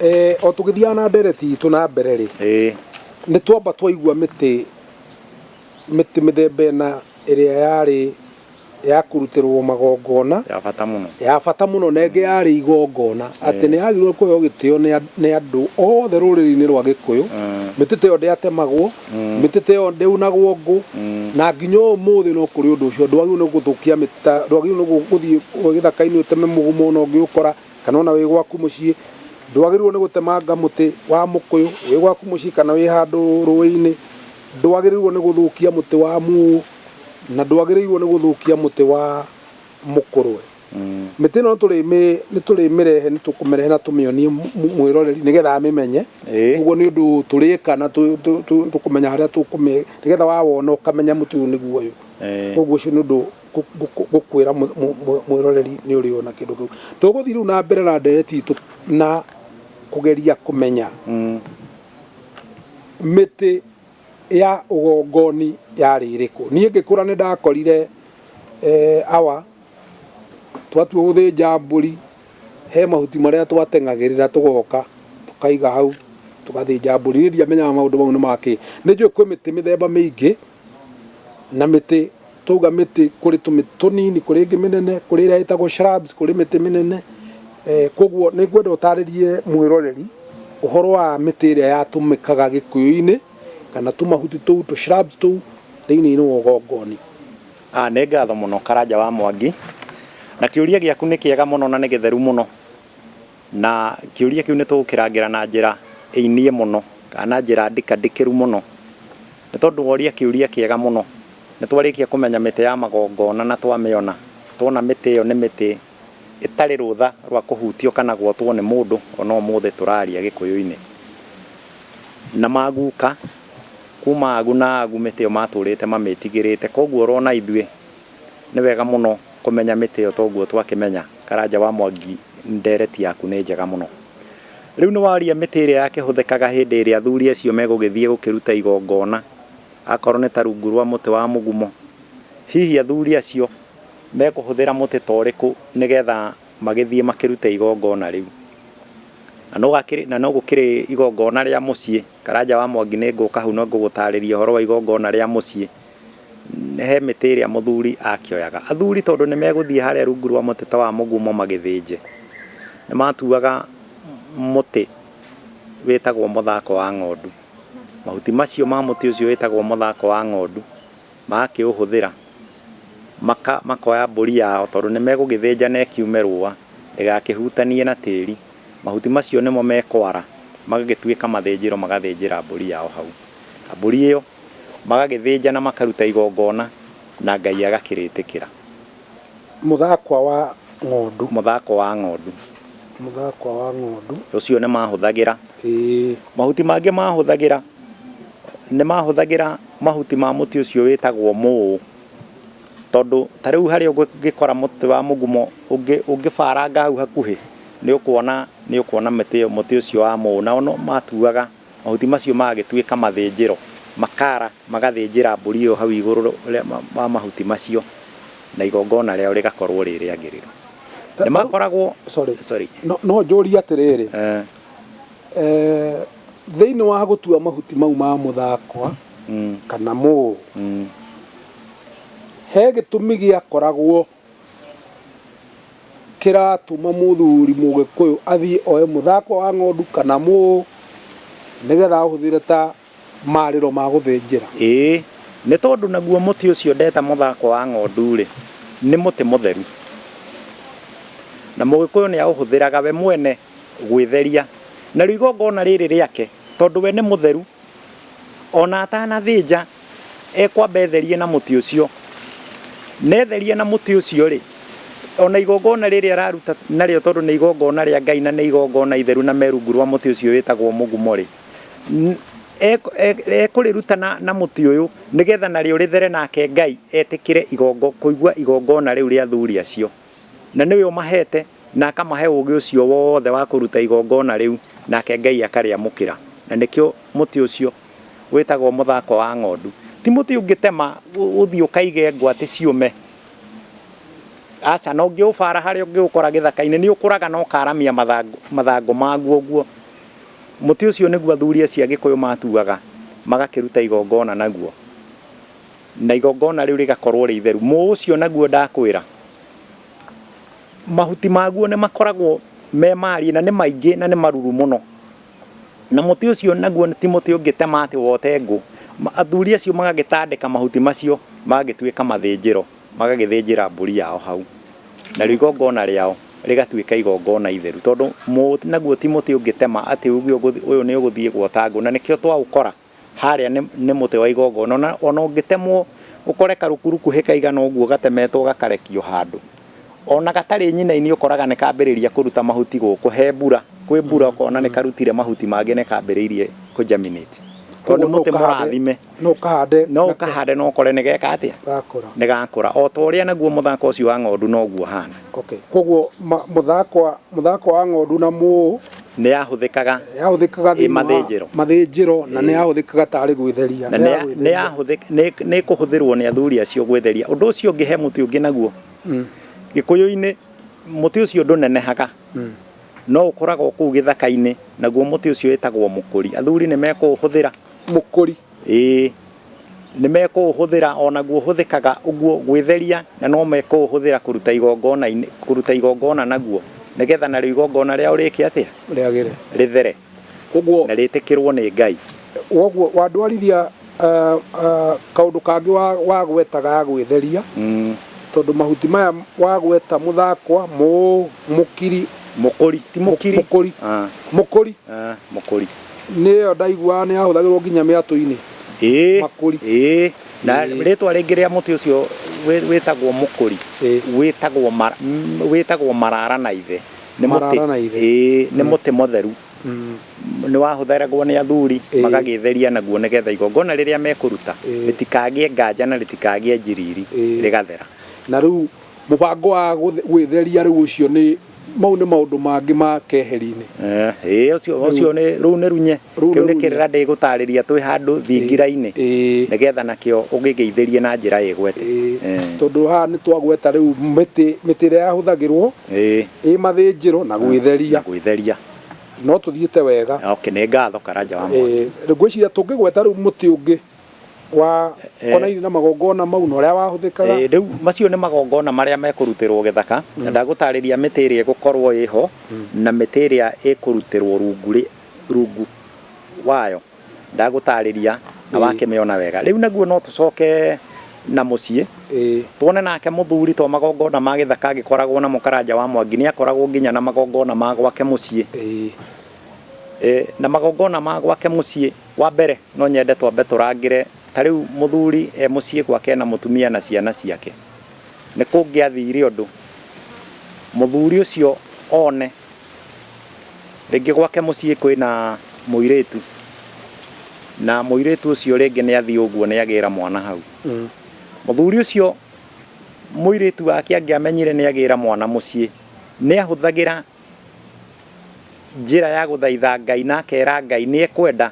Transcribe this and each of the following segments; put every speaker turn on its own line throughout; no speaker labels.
Eh, o tũgĩthiaga na ndereti itũ na mbere rĩ ĩĩ nĩ twamba twaigua mĩtĩ mĩtĩ mĩthemba ĩna ĩrĩa yarĩ ya kũrutĩrwo magongona ya bata mũno ya bata mũno na ĩngĩ yarĩ igongona atĩ nĩ yagĩrĩirwo kũheo gĩtĩo nĩ and- nĩ andũ othe rũrĩrĩ-inĩ rwa gĩkũyũ mĩtĩ ta ĩyo ndĩatemagwo mĩtĩ ta ĩyo ndĩunagwo ngũ na nginya ũmũthĩ no kũrĩ ũndũ ũcio ndwagĩrĩirwo nĩ gũthũkia mĩtĩ ta ndwagĩrĩirwo nĩ gũ- gũthiĩ gĩthaka-inĩ ũteme mũgũma ona ũngĩũkora kana ona wĩ gwaku mũciĩ, ndwagĩrĩirwo nĩ gũtemanga mũtĩ wa mũkũyũ wĩ gwaku mũciĩ kana wĩ handũ rũĩ-inĩ, ndwagĩrĩirwo nĩ gũthũkia mũtĩ wa muũ, na ndwagĩrĩirwo nĩ gũthũkia mũtĩ wa mũkũrwe. Mĩtĩ ĩno nĩtũrĩmĩrehe nĩtũkũmĩrehe na tũmĩonie mwĩroreri nĩgetha amĩmenye, ũguo nĩ ũndũ tũrĩka na tũkũmenya harĩa tũkũmĩhe nĩgetha wawona ũkamenya mũtĩ ũyũ nĩguo ũyũ, ũguo ũcio nĩ ũndũ... gũkwĩra mwĩroreri nĩ ũrĩ ona kĩndũ kĩu tũgũthiĩ rĩu na mbere na ndereti itũ na kũgeria kũmenya mm. mĩtĩ ya ũgongoni yarĩ ĩrĩkũ niĩ ngĩkũra nĩ ndakorire eh, awa twatua gũthĩnja mbũri he mahuti marĩa twateng'agĩrĩra tũgoka tũkaiga hau tũgathĩnja mbũri niĩ ndiamenyaga maũndũ mau nĩ makĩ nĩ njũĩ kwĩ mĩtĩ mĩthemba mĩingĩ na mĩtĩ twauga mĩtĩ kũrĩ tũmĩtĩ tũnini kũrĩ ĩngĩ mĩnene kũrĩ ĩrĩa ĩtagwo shrubs kũrĩ mĩtĩ mĩnene eh, koguo nĩ ngwenda ũtarĩrie mwĩroreri ũhoro wa mĩtĩ ĩrĩa yatũmĩkaga gĩkũyũ-inĩ kana tũmahuti tũu tũ shrubs tũu thĩinĩ wa ũgongoni Ah, nĩ ngatho mũno karanja wa mwangi na kĩũria gĩaku nĩ kĩega mũno na nĩ gĩtheru mũno Na kĩũria kĩu nĩ tũgũkĩrangĩra na njĩra ĩiniĩ mũno, kana na njĩra ndika ndikĩru mũno. Nĩ tondũ woria kĩũria kĩega mũno. Nĩ twarĩkia kũmenya mĩtĩ ya magongona na twamĩona, tuona mĩtĩ ĩyo nĩ mĩtĩ ĩtarĩ rũtha rwa kũhutio kana gwotwo nĩ mũndũ, o na ũmũthĩ tũraria Gĩkũyũ-inĩ. Na maguka kuuma agu na agu mĩtĩ ĩyo matũrĩte mamĩtigĩrĩte. Kwoguo o na ithuĩ nĩ wega mũno kũmenya mĩtĩ ĩyo toguo twakĩmenya. Karanja wa Mwangi ndereti yaku nĩ njega mũno. Rĩu nĩwaria mĩtĩ ĩrĩa yakĩhũthĩkaga hĩndĩ ĩrĩa athuri acio megũgĩthiĩ gũkĩruta igongona, akorwo nĩ ta rungu rwa mũtĩ wa mũgumo. Hihi athuri acio mekũhũthĩra mũtĩ ta ũrĩkũ nĩgetha magĩthiĩ makĩrute igongona rĩu? Na no gũkĩrĩ igongona rĩa mũciĩ, Karanja wa Mwangi nĩngũka hau na ngũgũtarĩria ũhoro wa igongona rĩa mũciĩ. He mĩtĩ ĩrĩa mũthuri akĩoyaga. Athuri tondũ nĩ megũthiĩ harĩa rungu rwa mũtĩ ta wa mũgumo magĩthĩnje, nĩ matuaga mũtĩ wĩtagwo mũthako wa ng'ondu. Mahuti macio ma mũtĩ ũcio wĩtagwo mũthako wa ng'ondu magakĩũhũthĩra makoya mbũri yao tondũ nĩ megũgĩthĩnja na ĩkiume rũa ndĩgakĩhutanie na tĩri. Mahuti macio nĩmo mekwara magagĩtuĩka mathĩnjĩro magathĩnjĩra mbũri yao hau. Na mbũri ĩyo magagĩthĩnja na makaruta igongona, na Ngai agakĩrĩtĩkĩra. Mũthakwa wa ng'ondu. Mũthakwa wa ng'ondu. Mũthakwa wa ng'ondu. Ũcio nĩ maahũthagĩra. Ĩĩ. Mahuti mangĩ maahũthagĩra, nĩ maahũthagĩra mahuti ma mũtĩ ũcio wĩtagwo mũũ, tondũ ta rĩu harĩa ũngĩkora mũtĩ wa mũgumo ũngĩbaranga hau hakuhĩ, nĩ ũkuona mũtĩ ũcio wa mũũ, nao no maatuaga. Mahuti macio magagĩtuĩka mathĩnjĩro, makaara magathĩnjĩra mbũri ĩyo hau igũrũ wa mahuti macio, na igongona rĩao rĩgakorwo rĩ rĩagĩrĩru. Nĩ makoragwo, sorry. No njũrie atĩrĩrĩ, thĩinĩ wa gũtua mahuti mau ma mũthakwa kana mũũ, he gĩtũmi gĩakoragwo kĩratũma mũthuri mũgĩkũyũ athiĩ oe mũthakwa wa ng'ondu kana mũũ nĩgetha ahũthĩre ta marĩro ma gũthĩnjĩra. Ĩĩ, nĩ tondũ naguo mũtĩ ũcio ndeta mũthakwa wa ng'ondu-rĩ, nĩ mũtĩ mũtheru, na mũgĩkũyũ nĩaũhũthĩraga we mwene gwĩtheria narĩo igongona rĩrĩ rĩake, tondũ we nĩ mũtheru. O na atanathĩnja, ekwamba etherie na mũtĩ ũcio, na etheria na mũtĩ ũcio-rĩ, o na igongona rĩrĩa araruta narĩo, tondũ nĩ igongona rĩa Ngai na nĩ igongona itheru na me rungu rwa mũtĩ ũcio wĩtagwo mũgumo-rĩ, ekũrĩruta na mũtĩ ũyũ, nĩgetha narĩo rĩthere, nake Ngai etĩkĩre kũigua igongona rĩu rĩa athuri acio. Na nĩwe ũmaheete na akamahe ũũgĩ ũcio wothe wa kũruta igongona rĩu, nake Ngai akarĩamũkĩra. Na nĩkĩo mũtĩ ũcio wĩtagwo mũthako wa ng'ondu. Ti mũtĩ ũngĩtema ũthiĩ ũkaige ngwatĩ ciũme. Aca, na ũngĩũbaara harĩa ũngĩũkora gĩthaka-inĩ, nĩ ũkũraga na ũkaaramia mathangũ maguo ũguo. Mũtĩ ũcio nĩguo athuri acio a Gĩkũyũ maatuaga magakĩruta igongona naguo. Na igongona rĩu rĩgakorwo rĩ itheru. Mũũ ũcio naguo ndakwĩra, mahuti maguo nĩ makoragwo me mariĩ na nĩ maingĩ na nĩ maruru mũno. Na mũtĩ ũcio naguo ti mũtĩ ũngĩtema atĩ wote ngũ. Athuri acio magagĩtandĩka mahuti macio magagĩtuĩka mathĩnjĩro, magagĩthĩnjĩra mbũri yao hau. Narĩo igongona rĩao rĩgatuĩka igongona itheru, tondũ mũũ naguo ti mũtĩ ũngĩtema atĩ uuge ũyũ nĩ ũgũthiĩ gwota ngũ. Na nĩkĩo twaũkora. Harĩa nĩ, nĩ mũtĩ wa igongona. Ona, ona ũngĩtemwo, ũkore karũkuruku hĩ kaigana ũguo gatemetwo gakarekio handũ. Ona gatarĩ nyinainĩ ũkoraga nĩ kambĩrĩria kũruta mahuti gũkũ he mbura. Kwĩ mbura ũkona nĩ karutire mahuti mangĩ nĩ kambĩrĩirie kũ germinate. Tondũ nĩ mũtĩ mũrathime. No ũkahande. No ũkahande na ũkore nĩ geka atĩa? Gakũra. Nĩ gakũra. O ta ũrĩa naguo mũthaka ũcio wa ng'ondu noguo ũhana. Okay. Koguo, ma, mũthakwa, mũthakwa wa ng'ondu na mũ, Nĩ yahũthĩkaga Nĩ yahũthĩkaga ĩ thĩinĩ wa mathĩnjĩro. mathĩnjĩro na nĩ yahũthĩkaga tarĩ gwĩtheria. Na Nĩ nĩ ya- nĩ yagwĩtheria. yahũthĩka- nĩ- nĩ ĩkũhũthĩrwo nĩ athuri acio gwĩtheria. Ũndũ ũcio ũngĩ he mũtĩ ũngĩ naguo. Mm, Gĩkũyũ-inĩ mũtĩ ũcio ndũnenehaga. mm. No ũkũraga o kũu gĩthaka-inĩ. Naguo mũtĩ ũcio wĩtagwo mũkũri. Athuri nĩ mekũũhũthĩra. Mũkũri. Ĩ, nĩ mekũũhũthĩra, o naguo ũhũthĩkaga ũguo gwĩtheria, na no mekũũhũthĩra kũruta igongona-inĩ, kũruta igongona naguo, nĩgetha narĩo igongona rĩao rĩĩke atĩa? Rĩagĩre. Rĩthere, Ũguo, na rĩĩtĩkĩrwo nĩ Ngai. ũguo wandwarithia ah, ah, kaũndũ kangĩ wa- wagwetaga ya gwĩtheria, Mm, tondũ mahuti maya wagweta mũthakwa, mũũ, mũkiri, Mũkũri, ti mũkiri. mũkũri. Ah, Mũkũri. ah, Mũkũri. Nĩyo ndaiguaga nĩ yahũthagĩrwo nginya mĩatũ-inĩ. Ĩĩ. Makũri. Ĩĩ. Na Ĩĩ. rĩtwa rĩngĩ rĩa mũtĩ ũcio wĩ- wĩtagwo mũkũri Ĩĩ. wĩtagwo mara- m- wĩtagwo marara na ithe nĩ mũtĩ Marara na ithe. Ĩĩ, nĩ mũtĩ mũtheru Mm. nĩ wahũthagĩragwo nĩ athuri Ĩĩ. magagĩtheria naguo nĩgetha igongona rĩrĩa mekũruta Ĩĩ. rĩtikagĩe nganja na rĩtikagĩe njiriri Ĩĩ. rĩgathera Na rĩu mũbango wa gũth- gwĩtheria rĩu ũcio nĩ Mau nĩ maũndũ mangĩ ma keheri-inĩ. Ĩĩ, ũcio, ũcio nĩ, rũu nĩ runye. Rũu nĩ Kĩu nĩ runye. kĩrĩra ndĩgũtaarĩria twĩ handũ thingira-inĩ, Ĩĩ. nĩgetha nakĩo ũgĩgeithĩrie na njĩra ĩgwete. Ĩĩ. Ĩĩ. Tondũ haha nĩ twagweta rĩu mĩtĩ, mĩtĩ ĩrĩa yahũthagĩrwo Ĩĩ. ĩ mathĩnjĩro na gwĩtheria. Na gwĩtheria. No tũthiĩte wega. Okay, nĩ ngatho Karanja wa Mwaki. Ĩĩ. Ngwĩciria tũngĩgweta rĩu mũtĩ ũngĩ wa Eh. konaini na magongona mau na ũrĩa wahũthĩkaga Eh, rĩu macio nĩ magongona marĩa mekũrutĩrwo gĩthaka na ndagũtarĩria mĩtĩ ĩrĩa ĩgũkorwo ĩho na mĩtĩ ĩrĩa ĩkũrutĩrwo rungu rĩ- rungu wayo ndagũtarĩria na Ĩĩ. wakĩmĩona wega rĩu naguo no tũcoke na mũciĩ Ĩĩ. tuone nake mũthuri to magongona ma gĩthaka agĩkoragwo namo karanja wa mwangi nĩ akoragwo nginya na magongona ma gwake mũciĩ Ĩĩ. Eh, na magongona ma gwake mũciĩ Wa mbere no nyende twambe tũrangĩre ta rĩu mũthuri e mũciĩ gwake ena mũtumia na ciana ciake. Nĩ kũngĩathire ũndũ mũthuri ũcio one rĩngĩ gwake mũciĩ kwĩna mũirĩtu na mũirĩtu ũcio rĩngĩ nĩ athiĩ ũguo nĩ agĩra mwana hau. Mũthuri ũcio mũirĩtu wake angĩamenyire nĩ agĩra mwana mũciĩ nĩ ahũthagĩra Njĩra ya gũthaitha Ngai na akeera Ngai nĩ ekwenda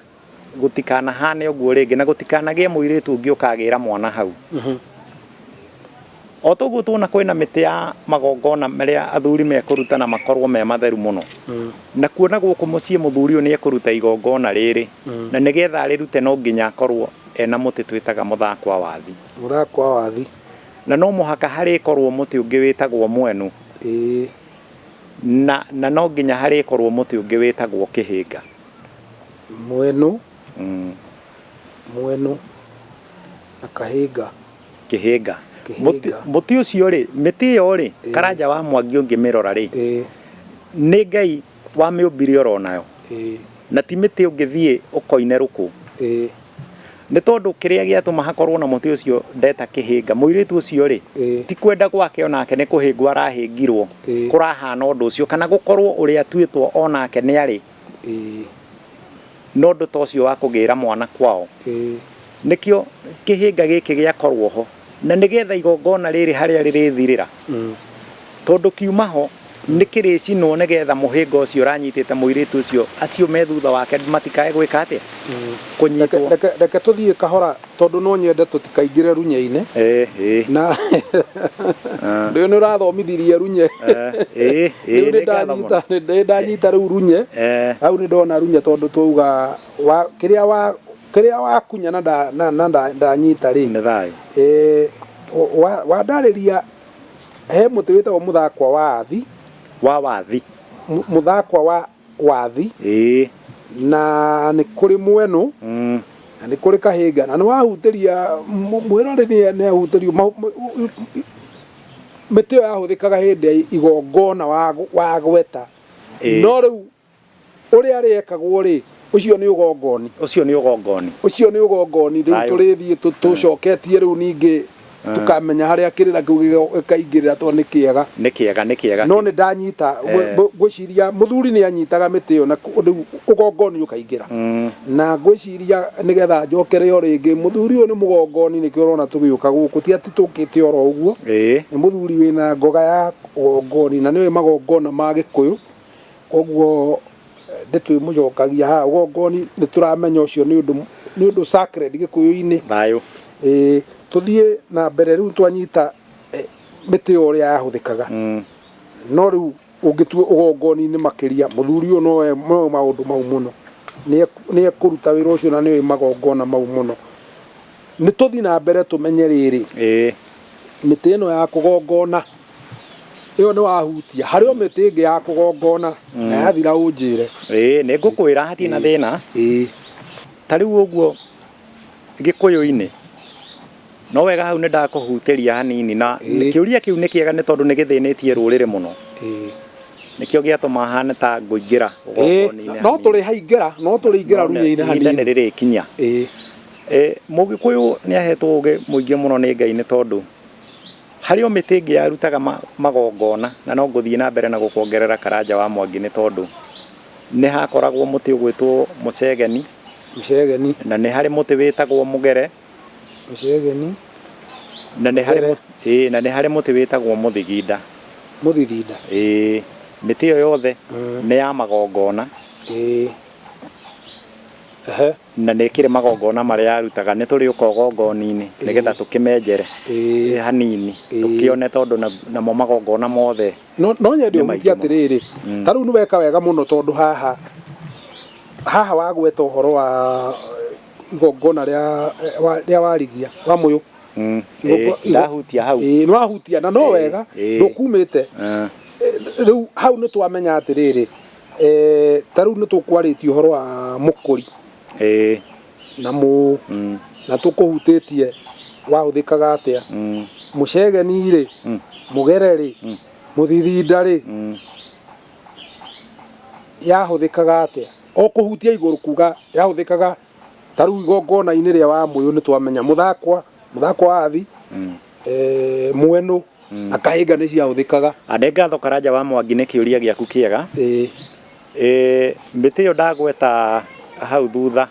gũtikanahaane ũguo rĩngĩ na gũtikanagĩe mũirĩtu ũngĩ ũkagĩĩra mwana hau. O ta ũguo tuona kwĩna mĩtĩ ya magongona marĩa athuri mekũruta na makorwo me matheru mũno, nakuo na gũkũ mũciĩ mũthuri ũyũ nĩ ekũruta igongona rĩrĩ, na nĩ getha arĩrute no nginya akorwo ena mũtĩ twĩtaga mũthakwa wathi. Mũthakwa wathi. Na no mũhaka harĩkorwo mũtĩ ũngĩ wĩtagwo mwenu. Na, na no nginya harĩkorũo mũtĩ ũngĩ wĩtagwo kĩhĩnga. Mwenũ, Mm. mwenũ, na kahĩnga. Kĩhĩnga. Mũtĩ, Kĩhĩnga. mũtĩ ũcio-rĩ, mĩtĩ ĩyo-rĩ, Ĩĩ. Karanja wa Mwangi ũngĩmĩrora-rĩ, Ĩĩ. nĩ Ngai Wa mĩũmbire oro nayo. Na ti mĩtĩ ũngĩthiĩ ũkoine rũkũ. Nĩ tondũ kĩrĩa gĩatũma hakorũo na mũtĩ ũcio ndeta kĩhĩnga, mũirĩtu ũcio-rĩ, ti kwenda gwake o nake nĩ kũhĩngwo arahĩngirũo kũrahana ũndũ ũcio, kana gũkorũo ũrĩa atuĩtwo o nake nĩarĩ. No ũndũ ta ũcio wa kũgĩĩra mwana kwao nĩkĩo kĩhĩnga gĩkĩ gĩakorũo ho, na nĩ getha igongona rĩrĩ harĩa rĩrĩthirĩra, tondũ kiuma ho nĩ kĩrĩcinwo nĩ getha mũhĩnga ũcio ũranyitĩte mũirĩtu ũcio acio me thutha wake matikae gwĩka atĩa? Kũnyitwo. Reke tũthiĩ kahora. Tondũ no nyende tũtikaingĩre runye-inĩ Eh, eh. na Ah. rĩu nĩ ũrathomithirie runye Eh, eh, rĩu eh, nĩ nĩ ngatho mũno. ndanyita nĩ- nĩ ndanyita rĩu runye Eh, hau nĩ ndona runye tondũ twauga wa kĩrĩa wa kĩrĩa wakunya na nda- na- na nda- ndanyita rĩ nĩ thayũ. Eh, wa- wandarĩria he mũtĩ wĩtagwo mũthakwa wa athi Wa wathi. Mu- mũthakwa wa wathi, Ĩĩ. na nĩ kũrĩ mwenũ, Mm. na nĩ kũrĩ kahĩnga, na nĩ wahutĩria mũ- mwĩrori nĩ- nĩ ahutĩrio mahu- mũ- mũ- mĩtĩ ĩyo yahũthĩkaga hĩndĩ ya igongona wa- wagweta Ĩĩ. no rĩu ũrĩa rĩekagwo rĩ ũcio nĩ ũgongoni ũcio nĩ ũgongoni ũcio nĩ ũgongoni rĩu Ayũ. tũrĩthiĩ tũ- tũcoketie rĩu ningĩ Tũkamenya harĩa kĩrĩra kĩu gĩkaingĩrĩra tondũ nĩ kĩega. Nĩ kĩega, nĩ kĩega. No nĩ ndanyita, ngwĩciria mũthuri nĩ anyitaga mĩtĩ ĩyo na rĩu ũgongoni ũkaingĩra. Na ngwĩciria nĩgetha njokere o rĩngĩ, mũthuri ũyũ nĩ mũgongoni nĩkĩo ũrona tũgĩũka gũkũ, ti atĩ tũkĩte oro ũguo. Nĩ mũthuri wĩna ngoga ya ũgongoni na nĩ oĩ magongona ma Gĩkũyũ, kwoguo... ndĩtwĩmũcokagia haha ũgongoni nĩ tũramenya ũcio nĩ ũndũ nĩ ũndũ sacred gĩkũyũ-inĩ thayũ Ĩĩ, tũthiĩ na mbere rĩu twanyita eh, mĩtĩ ĩyo ũrĩa yahũthĩkaga Mm. no rĩu ũngĩtua ũgongoni-inĩ makĩria mũthuri ũyũ noe moe maũndũ mau mũno Nĩe- nĩekũruta wĩra ũcio na nĩoĩ magongona mau mũno nĩ tũthiĩ na mbere tũmenye rĩrĩ Ĩĩ. mĩtĩ ĩno ya kũgongona ĩyo nĩ wahutia harĩ o mĩtĩ ĩngĩ ya kũgongona na yathira ũnjĩre ĩĩ nĩ ngũkwĩra hatirĩ na thĩna ĩĩ ta rĩu ũguo gĩkũyũ-inĩ no wega hau nĩ ndakũhutĩria hanini na Ĩĩ. kĩũria kĩu nĩ kĩega nĩ tondũ nĩ gĩthĩnĩtie rũrĩrĩ mũno ĩĩ nĩkĩo gĩatũma hane ta ngũingĩra Ĩĩ, ũgongona-inĩ no hanini. tũrĩ haingĩra no tũrĩ ingĩra None ruya-inĩ ihinda nĩ hanini rĩrĩkinya ĩĩ Eh, mũgĩkũyũ nĩ ahetwo ũgĩ mũingĩ mũno nĩ ngai nĩ tondũ Harĩ o mĩtĩ ĩngĩ yarutaga magongona, na no ngũthiĩ na mbere na gũkuongerera Karanja wa Mwangi nĩ tondũ nĩ hakoragwo mũtĩ ũgwĩtwo Mũcegeni, Mũcegeni, na nĩ harĩ mũtĩ wĩtagwo Mũgere, Mũcegeni, na nĩ harĩ, Mũgere. ĩĩ, na nĩ harĩ mũtĩ wĩtagwo Mũthiginda. Mũthiginda. Ĩĩ. Mĩtĩ ĩyo yothe nĩ ya magongona. Ĩĩ. Ehe. Na nĩkĩrĩ magongona marĩa arutaga, nĩtũrĩũka ũgongoni-inĩ nĩgetha tũkĩmenjere hanini tũkĩone tondũ namo magongona mothe nĩ maingĩ mũno. No nyende ũhunjie atĩrĩrĩ, ta rĩu nĩweka wega mũno tondũ haha, haha wagweta ũhoro wa igongona rĩa warigia wa mũyũ. Ĩĩ ndahutia hau. Ĩĩ nĩwahutia na no wega ndũkumĩte. Rĩu hau nĩtwamenya atĩrĩrĩ. Eh, ta rĩu nĩ tũkwarĩtie ũhoro wa mũkũri ĩĩ na mũũ mm, na tũkũhutĩtie wahũthĩkaga atĩa mm, mũcegeni rĩ mm, mũgere rĩ Mm. mũthithinda rĩ mm. yahũthĩkaga atĩa o kũhutia igũrũ kuga yahũthĩkaga Ta rĩu igongona-inĩ rĩa Wamũyũ nĩ twamenya mũthakwa, mũthakwa wa athi, eh, mwenũ na kahĩnga nĩ ciahũthĩkaga. Ande ngatho Karanja wa Mwangi nĩ kĩũria gĩaku kĩega. Ĩĩ. Ĩĩ, mĩtĩ ĩyo ndagweta hau thutha,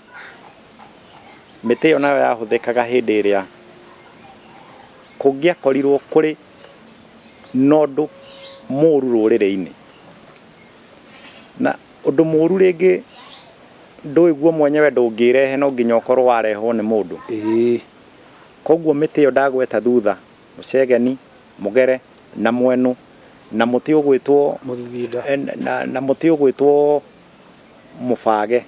mĩtĩ ĩyo nayo yahũthĩkaga hĩndĩ ĩrĩa kũngĩakorirwo kũrĩ na ũndũ mũũru rũrĩrĩ-inĩ. Na ũndũ mũũru rĩngĩ ndũĩ guo mwenyewe ndũngĩĩrehe no nginya ũkorwo warehwo nĩ mũndũ. Kwoguo mĩtĩ ĩyo ndagweta thutha, mũcegeni, mũgere, na mwenũ, na mũtĩ ũgwĩtwo, na mũtĩ ũgwĩtwo mũbage.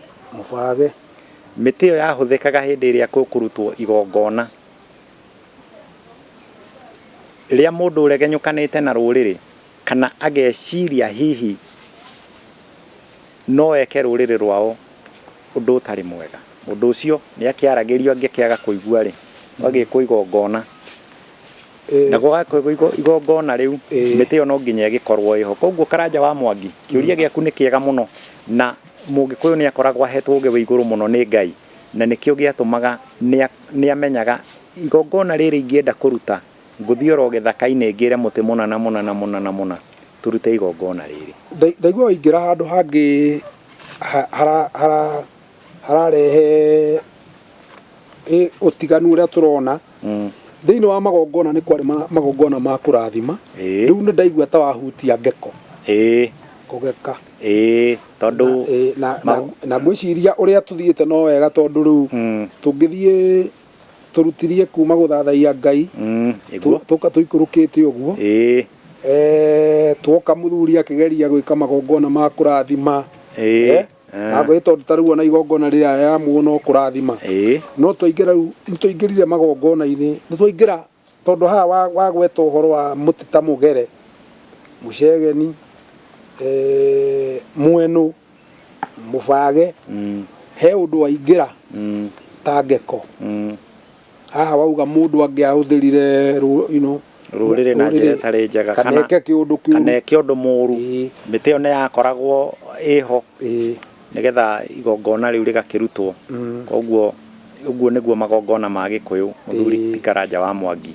Mĩtĩ ĩyo yahũthĩkaga hĩndĩ ĩrĩa kũkũrutwo igongona. Rĩrĩa mũndũ ũregenyũkanĩte na rũrĩrĩ. Kana ageciria hihi no eke rũrĩrĩ rwao ũndũ ũtarĩ mwega. Mũndũ ũcio nĩ akĩaragĩrio angĩkĩaga kũigua-rĩ, gũgagĩkwo igongona. Na gũgagĩkwo igongona rĩu, mĩtĩ ĩyo no nginya ĩgĩkorwo ĩho. Kũoguo Karanja wa Mwangi, kĩũria gĩaku nĩ kĩega mũno na Mũgĩkũyũ nĩ akoragwo ahetwo ũgĩ wĩ igũrũ mũno nĩ Ngai na nĩkĩo gĩatũmaga nĩ amenyaga igongona rĩrĩ ingĩenda kũruta Ngũthiĩ o ro gĩthaka-inĩ ngĩre mũtĩ mũna na mũna na mũna na mũna, 'Tũrute igongona rĩrĩ. Ndaigua waingĩra handũ hangĩ hararehe ũtiganu ũrĩa tũrona. Thĩinĩ wa magongona nĩ kwarĩ magongona ma kũrathima, rĩu nĩ ndaigua ta wahutia ngeko, kũgeka. Na ngwĩciria ũrĩa tũthiĩte no wega tondũ rĩu tũngĩthiĩ... tũrutirie kuma gũthathaiya Ngai Mm, tũ- ĩguo. tũka tũikũrũkĩte ũguo Ĩĩ. Eh, tuoka mũthuri akĩgeria gwĩka magongona ma kũrathima Ĩĩ. Eh, na Ah. gwĩ tondũ ta rĩu ona igongona rĩrĩa ya muoyo no kũrathima Ĩĩ. no twaingĩra rĩu nĩ twaingĩrire magongona-inĩ nĩ twaingĩra Tondũ haha wagweta ũhoro wa mũtĩ ta mũgere, mũcegeni, mwenũ, mũbage, he ũndũ waingĩra ta ngeko. Haha wauga mũndũ angĩahũthĩrire rũrĩrĩ na njĩra ĩtarĩ njega kana eke ũndũ mũru, mĩtĩ ĩyo nĩ yakoragwo ĩho Nĩgetha igongona rĩu rĩgakĩrutwo. Koguo ũguo nĩguo magongona ma Gĩkũyũ, mũthuri ti Karanja wa Mwangi,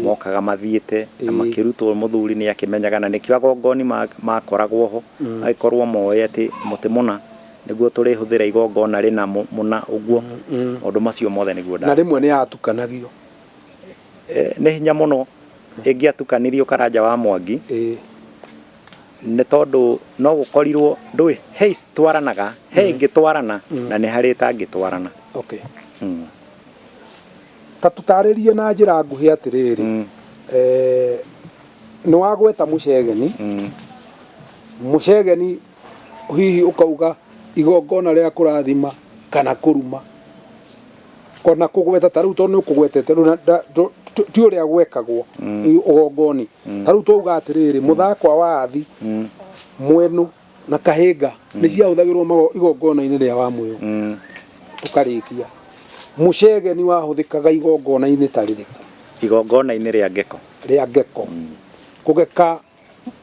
mokaga mathiĩte na makĩrutwo mũthuri nĩ akĩmenyaga na nĩkĩo agongoni makoragwo ho, magĩkorwo moĩ atĩ mũtĩ mũna nĩguo tũrĩhũthĩra igongona rĩna mũna ũguo, maũndũ macio mothe nĩguo nda. Na rĩmwe nĩ yatukanagio. Nĩ hinya mũno ĩngĩatukanirio Karanja wa Mwangi. nĩ tondũ no gũkorirwo ndũĩ he citwaranaga he mm-hmm. ingĩtwarana mm-hmm. na nĩ harĩ ĩtangĩtwarana okay. mm. ta tũtarĩrie na njĩra nguhĩ atĩrĩrĩ mm. eh, nĩ wagweta mũcegeni mm. mũcegeni hihi ũkauga igongona rĩa kũrathima kana kũruma ona kũgweta ta rĩu tondũ nĩ ũkũgwetete rĩu na nda- ndũ- tu- ti ũrĩa gwekagwo ĩ- ũgongoni ta rĩu twauga atĩrĩrĩ mũthakwa wa athi mwenũ na kahĩnga nĩ ciahũthagĩrwo mago- igongona-inĩ rĩa wa mwĩyo Mm. tũkarĩkia mũcegeni wahũthĩkaga igongona-inĩ ta rĩrĩkũ igongona-inĩ rĩa ngeko rĩa ngeko kũgeka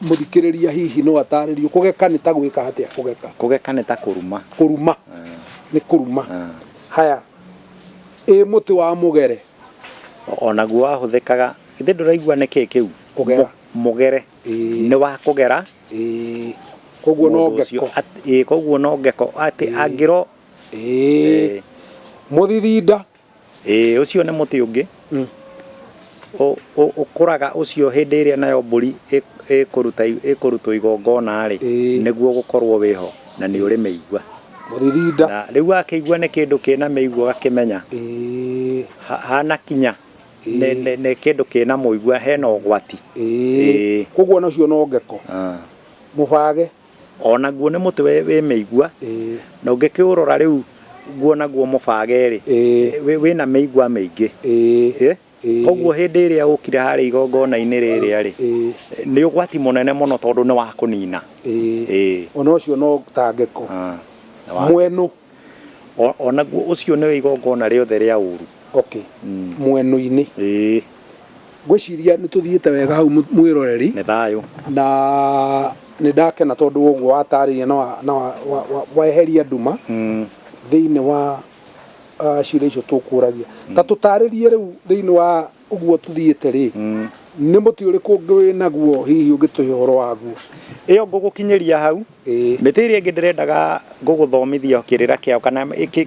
Mũthikĩrĩria hihi no ataarĩrio kũgeka nĩ ta gwĩka atĩa? Kũgeka. Kũgeka nĩ ta kũruma. Kũruma. Nĩ kũruma. Haya. Ĩ mũtĩ wa mũgere? O naguo wahũthĩkaga. Githĩ ndũraigua nĩ kĩĩ kĩu? Kũgera. Mũgere. Nĩ wa kũgera. Kwoguo no ngeko. Ĩ kwoguo no ngeko. Atĩ angĩro. Ĩ. Mũthithinda. Ĩĩ, ũcio nĩ mũtĩ ũngĩ ũ- ũ- ũkũraga ũcio hĩndĩ ĩrĩa nayo mbũri ĩ- ĩkũruta ĩkũrutwo igongona-rĩ Ĩĩ. nĩguo gũkorwo wĩho na nĩ ũrĩ mĩigua Mũririnda. na rĩu wakĩigua nĩ kĩndũ kĩna mĩigua ũgakĩmenya Ĩĩ. ha- hanakinya Ĩĩ. nĩ- nĩ nĩ kĩndũ kĩna mũigua hena ũgwati Ĩĩ. Ĩĩ. Koguo nacio no ngeko. Ah. Mũbage. O naguo nĩ mũtĩ wĩ, wĩ mĩigua. Ĩĩ. Na ũngĩkĩũrora rĩu nguo naguo mũbage-rĩ, Ĩĩ. wĩ, wĩna mĩigua mĩingĩ. Ĩĩ. Ĩ! Ĩĩ. Koguo hĩndĩ ĩrĩa ũkire harĩa igongona-inĩ rĩrĩa-rĩ, Ĩĩ. nĩ ũgwati mũnene mũno tondũ nĩ wa kũnina. Ĩĩ. Ĩĩ. O na ũcio no ta ngeko. Aa. Nĩ wa. Mwenũ. O, o naguo ũcio nĩwe igongona rĩothe rĩa ũũru. Okay. Mm. Mweno-inĩ. Ĩĩ. Ngwĩciria nĩ tũthiĩte wega hau mwĩroreri. Nĩ thayũ. Na nĩ ndakena tondũ wa ũguo watarĩria na, wa, na wa, wa, wa, waeheria nduma mm. thĩinĩ wa uh, ciũria icio tũkũragia. Mm. Ta tũtarĩrie rĩu thĩinĩ wa Ũguo tũthiĩte-rĩ, nĩ mũtĩ ũrĩkũ ũngĩ wĩ naguo hihi ũngĩtũhe ũhoro waguo? Ĩyo ngũgũkinyĩria hau. Mĩtĩ ĩrĩa ĩngĩ ndĩrendaga gũgũthomithia kĩrĩra kĩayo, kana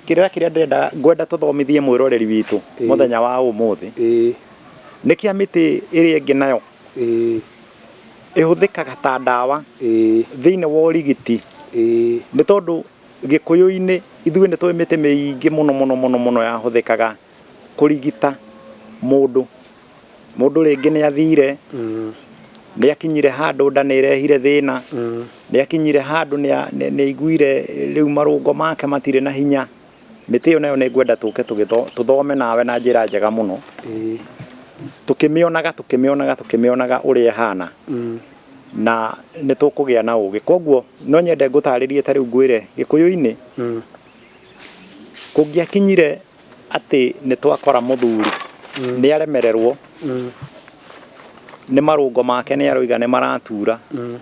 kĩrĩra kĩrĩa ndĩrenda, ngwenda tũthomithie mwĩroreri witũ mũthenya wa ũmũthĩ, nĩ kĩa mĩtĩ ĩrĩa ĩngĩ nayo ĩhũthĩkaga ta ndawa thĩiniĩ wa ũrigiti, nĩ tondũ Gĩkũyũ-inĩ ithuĩ nĩ tũĩ mĩtĩ mĩingĩ mũno mũno mũno yahũthĩkaga. kũrigita mũndũ mũndũ rĩngĩ nĩ athire mm. nĩ akinyire handũ nda nĩ ĩrehire thĩna mm. nĩ akinyire handũ nĩ aiguire rĩu marũngo make matirĩ na hinya mĩtĩ ĩyo nayo nĩ ngwenda tũke tũthome nawe na njĩra njega mũno tũkĩmĩonaga tũkĩmĩonaga tũkĩmĩonaga ũrĩa ĩhana mm. na nĩ tũkũgĩa na ũgĩ koguo no nyende ngũtarĩrie ta rĩu ngwĩre gĩkũyũ-inĩ mm. kũngĩakinyire atĩ nĩ twakora mũthuri mm. nĩ aremererwo mm. nĩ marũngo make nĩ aroiga nĩ maratura mm.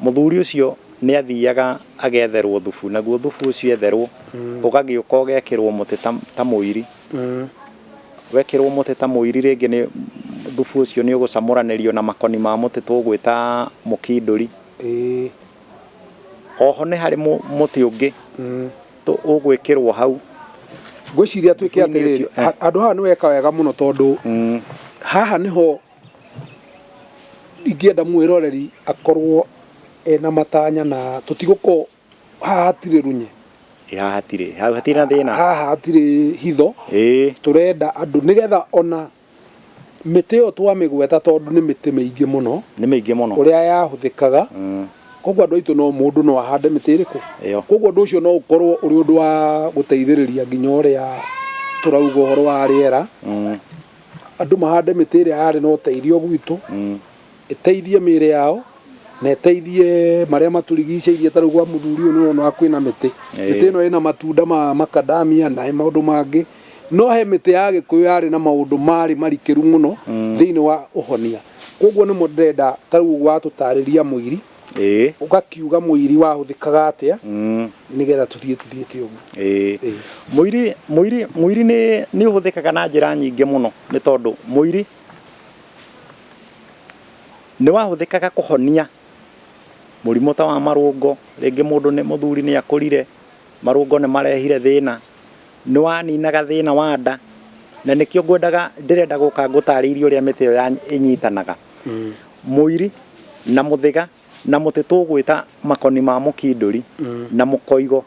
mũthuri ũcio nĩ athiaga agetherwo thubu naguo thubu ũcio etherwo mm. ũgagĩũka ũgekĩrwo mũtĩ ta mũiri mm. wekĩrwo mũtĩ ta mũiri rĩngĩ nĩ thubu ũcio nĩ ũgũcamũranĩrio na makoni ma mũtĩ tũgwĩta mũkindũri oho nĩ harĩ mũtĩ ũngĩ mm. tũ ũgwĩkĩrwo hau ngwĩciria tuĩke Ibuku-inĩ atĩrĩrĩ ũcio, eh. ha- handũ haha nĩ weka wega mũno tondũ Mm. haha nĩho ingĩenda mwĩroreri akorwo ena matanya na tũtigũkorwo haha hatirĩ runye Ĩ, haha hatirĩ hau hatirĩ na thĩna haha hatirĩ hitho ĩĩ tũrenda andũ nĩgetha ona Mĩtĩ ĩyo twamĩgweta tondũ nĩ mĩtĩ mĩingĩ mũno. Nĩ mĩingĩ mũno. Ũrĩa yahũthĩkaga. Kwoguo andũ aitũ no mũndũ no ahande mĩtĩ ĩrĩkũ? Ĩyo. Kwoguo ũndũ ũcio no ũkorũo ũrĩ ũndũ wa gũteithĩrĩria nginya ũrĩa tũrauga ũhoro wa rĩera. Andũ mahande mĩtĩ ĩrĩa yarĩ na ũteithio gwitũ. ĩteithie mĩĩrĩ yao na ĩteithie marĩa matũrigicĩirie. Ta rĩu gwa mũthuri ũyũ nĩ ũrona kwĩna mĩtĩ, mĩtĩ ĩno ĩna matunda ma macadamia na maũndũ mangĩ, no he mĩtĩ ya Gĩkũyũ yarĩ na maũndũ marĩ marikĩru mũno thĩinĩ wa ũhonia. Kwoguo nĩmo ndĩrenda ta rĩu watũtaarĩria mũiri, ũgakiuga mũiri wahũthĩkaga atĩa nĩgetha tũthiĩ tũthiĩte ũguo. Ĩĩ, mũiri, mũiri, mũiri nĩ, nĩ ũhũthĩkaga na njĩra nyingĩ mũno nĩ tondũ mũiri Nĩ wahũthĩkaga kũhonia mũrimũ ta wa marũngo, rĩngĩ mũndũ nĩ mũthuri nĩ akũrire, marũngo nĩ marehire thĩna, nĩ waninaga thĩna wa nda, na nĩkĩo ngwendaga ndĩrenda gũka ngũtarĩirie ũrĩa mĩtĩ ĩyo ĩnyitanaga. Mũiri na mũthĩga na mũtĩ tũgwĩta makoni ma mũkindũri na mũkoigo.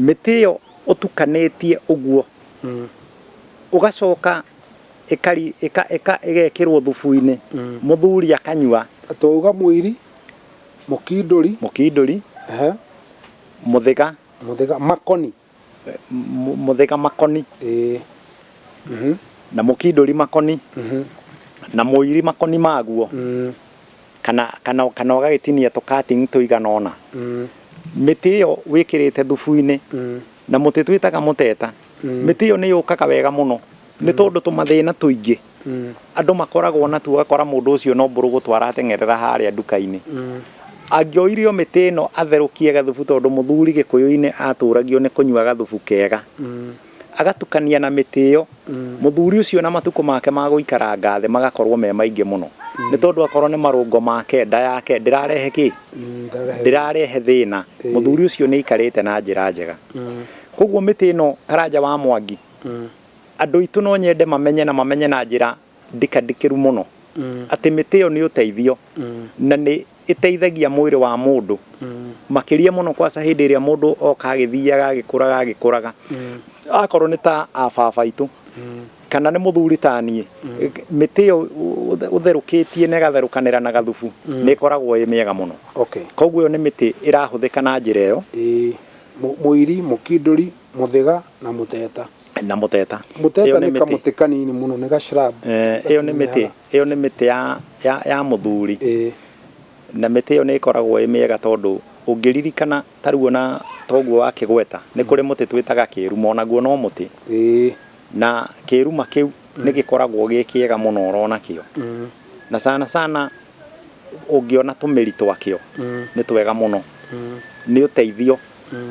Mĩtĩ ĩyo ũtukanĩtie ũguo, ũgacoka ĩgekĩrwo thubu-inĩ, mũthuri akanyua. Twauga mũiri, mũkindũri. Mũkindũri, mũthĩga. Mũthĩga, makoni. mũthĩga makoni ĩĩ Mhm. na mũkindũri makoni Mhm. na mũiri makoni maguo Mm. kana kana kana ũgagĩtinia tũkatingi tũigana ona Mm. mĩtĩ ĩyo wĩkĩrĩte thubu-inĩ Mm. na mũtĩ twĩtaga mũteta Mm. mĩtĩ ĩyo nĩ yũkaga wega mũno nĩ tondũ tũmathĩna tũingĩ Andũ makoragwo na tu ũgakora mũndũ ũcio no mbũrũgũtũ arateng'erera harĩa nduka-inĩ. Angĩoire o mĩtĩ ĩno atherũkie gathubu tondũ mũthuri Gĩkũyũ-inĩ atũragio nĩ kũnyua gathubu kega. Agatukania na mĩtĩ ĩyo, mũthuri ũcio na matukũ make ma gũikaranga thĩ magakorwo me maingĩ mũno. Nĩ tondũ akorwo nĩ marũngo make, nda yake ndĩrarehe kĩ? Ndĩrarehe thĩna. Mũthuri ũcio nĩ aikarĩte na njĩra njega. Kwoguo mĩtĩ ĩno Karanja wa Mwangi Andũ aitũ no nyende mamenye na mamenye na njĩra ndikandĩkĩru mũno atĩ mĩtĩ ĩyo nĩ ũteithio na nĩ ĩteithagia mwĩrĩ wa mũndũ makĩria mũno kwaca hĩndĩ ĩrĩa mũndũ oka agĩthiaga agĩkũraga agĩkũraga. Akorwo nĩ ta a baba aitũ kana nĩ mũthuri ta niĩ, mĩtĩ ĩyo ũtherũkĩtie na ĩgatherũkanĩra na gathubu nĩ ĩkoragwo ĩĩ mĩega mũno. Kwoguo ĩyo nĩ mĩtĩ ĩrahũthĩka na njĩra ĩyo. Mũiri, mũkindũri, mũthĩga na mũteta. na mũteta Mũteta Ĩyo nĩ mĩtĩ. kamũtĩ kanini mũno nĩ gacirabu. Eh, ĩyo nĩ mĩtĩ ĩyo nĩ mĩtĩ ya, ya, ya mũthuri Ĩĩ. na mĩtĩ ĩyo nĩ ĩkoragwo ĩ mĩega tondũ ũngĩririkana ta rĩu ona toguo wa kĩgweta nĩ kũrĩ mũtĩ twĩtaga kĩruma onaguo no mũtĩ Ĩĩ. na kĩruma kĩu nĩ gĩkoragwo gĩ kĩega mũno ũrona kĩo Mm. na sana sana ũngĩona tũmĩri twakĩo Mm. nĩ twega mũno Mm. nĩ ũteithio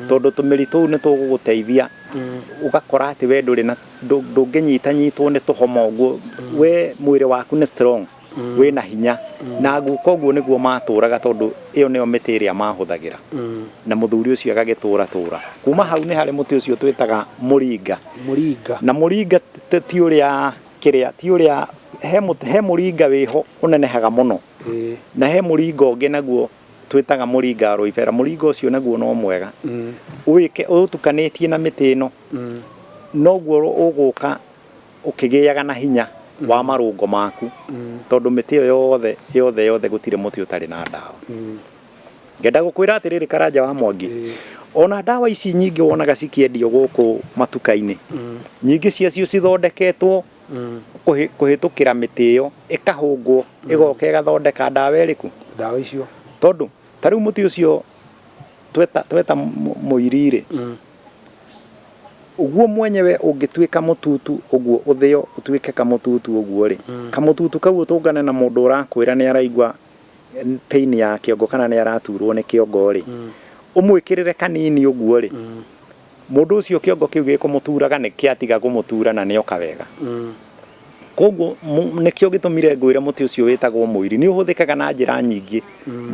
tondũ tũmĩri tũu nĩ tũgũgũteithia ũgakora atĩ we ndũrĩ na ndũngĩnyitanyitwo nĩ tũhoma ũguo we mwĩrĩ waku nĩ strong wĩ na hinya na guka ũguo nĩguo matũraga tondũ ĩyo nĩyo mĩtĩ ĩrĩa mahũthagĩra na mũthuri ũcio agagĩtũra tũra kuma hau nĩ harĩ mũtĩ ũcio twĩtaga mũringa na mũringa ti ũrĩa kĩrĩa ti ũrĩa he mũringa wĩho ũnenehaga mũno na he mũringa ũngĩ naguo twĩtaga mũringa wa rũibera mũringa ũcio naguo no mwega wĩke ũtukanĩtie na mĩtĩ ĩno noguo ũgũka ũkĩgĩaga na hinya wa marũngo maku tondũ mĩtĩ ĩyo yothe yothe yothe gũtirĩ mũtĩ ũtarĩ na ndawa ngenda gũkwĩra atĩrĩrĩ karanja wa mwangi ona ndawa ici nyingĩ wonaga cikĩendio gũkũ matuka-inĩ nyingĩ ciacio cithondeketwo mm. kũhĩtũkĩra mĩtĩ ĩyo ĩkahũngwo mm. ĩgoka ĩgathondeka ndawa ĩrĩkũ ndawa icio tondũ ta rĩu mũtĩ ũcio tweta, tweta mũirirĩ mm. ũguo mwenyewe ũngĩtuĩka mũtutu ũguo ũthĩo ũtuĩke kamũtutu ũguo rĩ mm. kamũtutu kau ũtũngane na mũndũ ũrakwĩra nĩ araigua pain ya kĩongo kana nĩ araturwo nĩ kĩongo rĩ mm. ũmwĩkĩrĩre kanini ũguo rĩ mm. Mũndũ ũcio kĩongo kĩu gĩkũmũtuuraga nĩ kĩatiga kũmũtuura na nĩoka wega. Kwoguo nĩkĩo gĩtũmire ngwĩre mũtĩ ũcio wĩtagwo mũiri. Nĩ ũhũthĩkaga na njĩra nyingĩ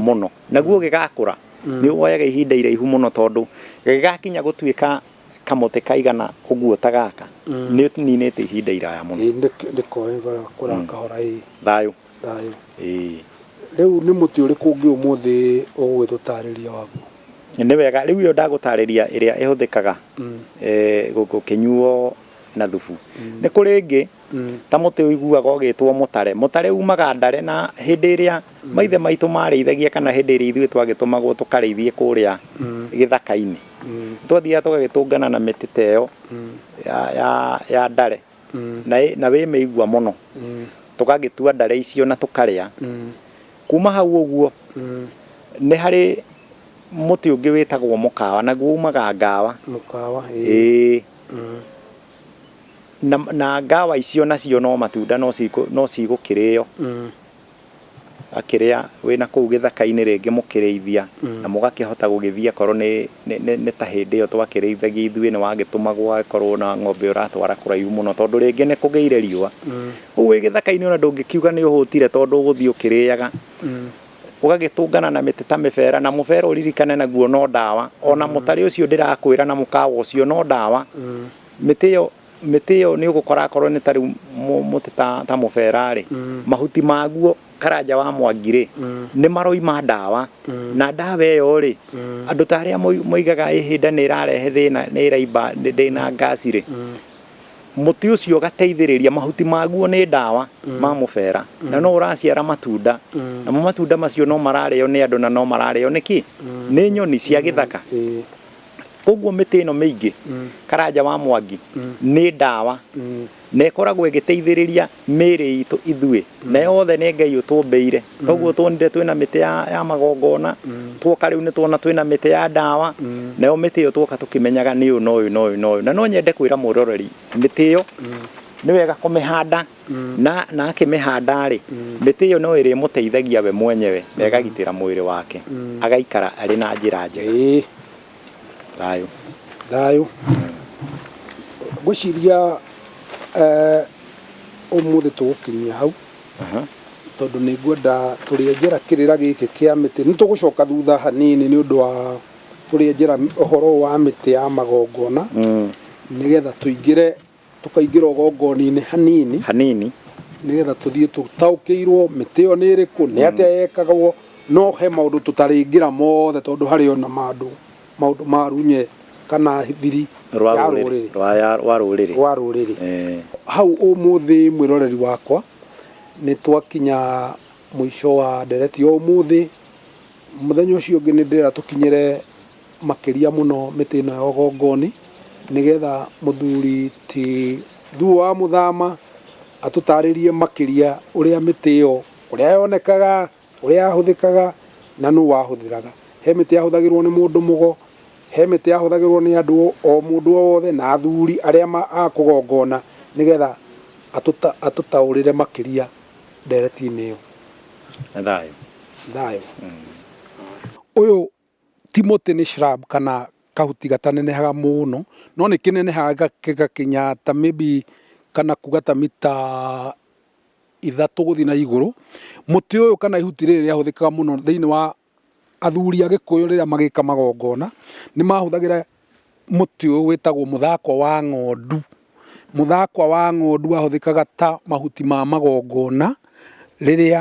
mũno. Naguo ũgĩgakũra, nĩ woyaga ihinda iraihu mũno tondũ gĩgakinya gũtuĩka kamũtĩ kaigana ũguo ta gaka, nĩ ũninĩte ihinda iraya mũno. Thayũ. Thayũ. Ĩĩ. Rĩu nĩ mũtĩ ũrĩkũ ũngĩ ũmũthĩ ũgũgĩtũ ũtaarĩria waguo? Nĩ wega, rĩu ĩyo ndagũtaarĩria ĩrĩa ĩhũthĩkaga gũkĩnyuo na thubu. Nĩ kũrĩ ĩngĩ, ta mũtĩ ũiguaga ũgĩtwo mũtare. Mũtare umaga ndare na hĩndĩ ĩrĩa maithe maitũ maarĩithagia kana hĩndĩ ĩrĩa ithuĩ twagĩtũmagwo tũkarĩithie kũrĩa gĩthaka-inĩ, nĩ twathiaga tũgagĩtũngana na mĩtĩ ta ĩyo ya ndare. na ĩ- na wĩ mĩigua mũno tũgagĩtua ndare icio na tũkarĩa kuma hau ũguo nĩ harĩ mũtĩ ũngĩ wĩtagwo mũkawa naguo umaga ngawa mũkawa ĩĩ na, na ngawa icio nacio no matunda no cikũ- no cigũkĩrĩo akĩrĩa wĩ na kũu gĩthaka-inĩ rĩngĩ mũkĩrĩithia na mũgakĩhota gũgĩthiĩ akorwo nĩ nĩ ta hĩndĩ ĩyo twakĩrĩithagia ithuĩ nĩ wagĩtũmagwo agĩkorwo na ng'ombe ũratwara kũraihu mũno tondũ rĩngĩ nĩ kũgĩire riũa. Rĩu wĩ gĩthaka-inĩ ona ndũngĩkiuga nĩ ũhũtire tondũ ũgũthiĩ ũkĩrĩaga. Ũgagĩtũngana na mĩtĩ ta mĩbera na mũbera ũririkane naguo no ndawa. Ona mũtarĩ ũcio ndĩrakwĩra na mũkawa ũcio no ndawa. Mĩtĩ ĩyo Mĩtĩ ĩyo nĩ ũgũkora akorwo nĩ ta rĩu mũtĩ ta mũbera rĩ, mm. mahuti maguo karanja wa mwangi rĩ, mm. nĩ maroima ndawa. Mm. Na ndawa ĩyo rĩ, andũ ta arĩa moigaga ĩhĩnda nĩ ĩrarehe thĩna nĩ ĩraimba ndĩna ngasi rĩ, mũtĩ ũcio ũgateithĩrĩria mahuti maguo nĩ ndawa mm. ma mũbera mm. na no ũraciara matunda mm. namo matunda macio no mararĩo nĩ andũ na no mararĩo nĩkĩ nĩ nyoni cia gĩthaka Koguo mĩtĩ ĩno mĩingĩ, Karanja wa Mwangi, nĩ ndawa na ĩkoragwo ĩgĩteithĩrĩria mĩĩrĩ itũ ithuĩ, na yothe nĩ Ngai ũtũmbĩire. Toguo tuonire twĩna mĩtĩ ya magongona, tuoka rĩu nĩ tuona twĩna mĩtĩ ya ndawa, nayo mĩtĩ ĩyo tuoka tũkĩmenyaga nĩ ũyũ na ũyũ na ũyũ na ũyũ. No nyende kwĩra mũroreri, mĩtĩ ĩyo nĩ wega kũmĩhanda. na, na akĩmĩhanda-rĩ, mĩtĩ ĩyo no ĩrĩmũteithagia we mwenyewe na ĩgagitĩra mwĩrĩ wake, agaikara arĩ na njĩra njega. Ĩĩ. Thayũ. Thayũ. Ngwĩciria eh, ũmũthĩ tũgũkinyia hau Aha. tondũ nĩ ngwenda tũrĩenjera kĩrĩra gĩkĩ kĩa mĩtĩ nĩ tũgũcoka thutha hanini nĩ ũndũ wa tũrĩenjera ũhoro wa mĩtĩ ya magongona Mm. nĩgetha tũingĩre Tũkaingĩra ũgongoninĩ hanini. Hanini. Nĩgetha tũthiĩ tũtaũkĩirwo mĩtĩ ĩyo nĩ ĩrĩkũ, nĩ atĩa yekagwo, no he maũndũ tũtarĩngĩra mothe tondũ harĩ ona mandũ, maũndũ ma runye kana thiri ya rũrĩrĩ. Wa rũrĩrĩ. Wa rũrĩrĩ. Hau ũmũthĩ mwĩroreri wakwa, nĩ twakinya mũico wa ndereti ya ũmũthĩ. Mũthenya ũcio ũngĩ nĩ ndĩrera tũkinyĩre makĩria mũno mĩtĩ ĩno ya ũgongoni, nĩgetha mũthuri ti Thuo wa Mũthama atũtarĩrie makĩria ũrĩa mĩtĩ ĩyo, ũrĩa yonekaga, ũrĩa yahũthĩkaga na nũ wahũthĩraga. He mĩtĩ yahũthagĩrwo nĩ mũndũ mũgo, he mĩtĩ yahũthagĩrwo nĩ andũ o mũndũ o wothe na athuri arĩa a kũgongona, nĩgetha atũtaũrĩre makĩria ndereti-inĩ ĩyo. Thayũ. Thayũ. Ũyũ Timotĩ nĩ shrub kana kahuti gatanenehaga mũno, no nĩ kĩnenehaga gĩgakinya ta maybe kana kuga ta mita ithatũ gũthiĩ na igũrũ. Mũtĩ ũyũ kana ihuti rĩrĩ rĩahũthĩkaga mũno thĩinĩ wa athuri a Gĩkũyũ rĩrĩa magĩka magongona, nĩ mahũthagĩra mũtĩ ũyũ wĩtagwo mũthakwa wa ng'ondu. Mũthakwa wa ng'ondu wahũthĩkaga ta mahuti ma magongona rĩrĩa